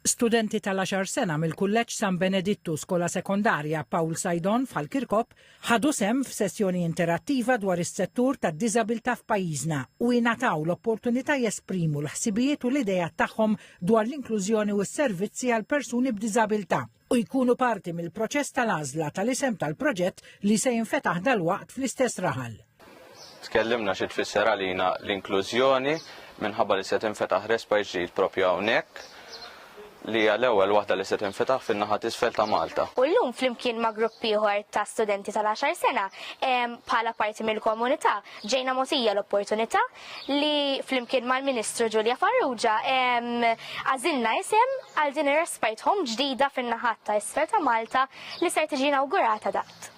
Studenti tal-għaxar sena mill-Kulleġġ San Benedittu Skola Sekondarja Paul Saidon f'Ħal-Kirkop ħadu sehem f'sessjoni interattiva dwar is-settur tad-diżabilità f'pajjiżna u ingħataw l-opportunità jesprimu l-ħsibijiet u l-ideat tagħhom dwar l-inklużjoni u s-servizzi għall-persuni b'diżabilità. u jkunu parti mill-proċess tal-għażla tal-isem tal-proġett li se jinfetaħ dalwaqt fl-istess raħal. Tkellimna xi tfisser għalina l-inklużjoni minħabba li se tinfetaħ respa ġdid propju hawnhekk li hija l-ewwel waħda li se tinfetaħ fin-naħa t'isfel ta' Malta. U llum flimkien ma' grupp ieħor ta' studenti tal-10 sena bħala parti mill-komunità ġejna mogħtija l-opportunità li flimkien mal-Ministru Ġulja Farrugia għażilna isem għal din ir-respite home ġdida fin-naħat ta' isfel ta' Malta li ser tiġi inawgurata daqt.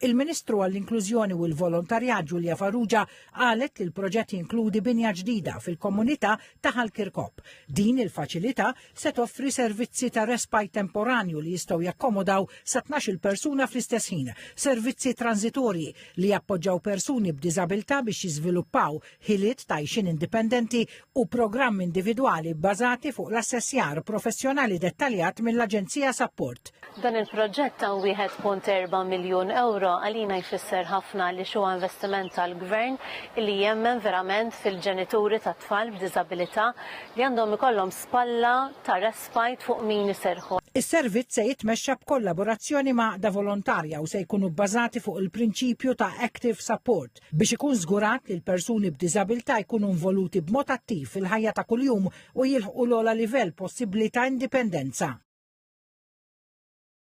Il-Ministru għall-Inklużjoni u l-Volontarjat Ġulja Farrugia qalet li l-proġett jinkludi binja ġdida fil-komunità ta' Ħal Kirkop. Din il-faċilità se toffri servizzi ta' respite temporanju li jistgħu jakkomodaw sa 12 persuna fl-istess ħin, servizzi transitorji li jappoġġaw persuni b'diżabilità biex jiżviluppaw ħiliet ta' xin indipendenti u programmi individwali bbażati fuq l-assessjar professjonali dettaljat mill-Aġenzija Sapport. Dan il-proġett ta' 1.4 miljun ewro għalina jfisser ħafna li huwa investiment tal-Gvern li jemmen verament fil-ġenituri tat-tfal b'diżabilità li għandhom ikollhom spalla ta' respite fuq min iserrħu. Is-servizz se jitmexxa b'kollaborazzjoni ma' għaqda volontarja u se jkunu bbażati fuq il-prinċipju ta' active support biex ikun żgurat li l-persuni b'diżabilità jkunu involuti b'mod attiv fil-ħajja ta' kuljum u jilħqu l-ogħla livell possibbli ta' indipendenza.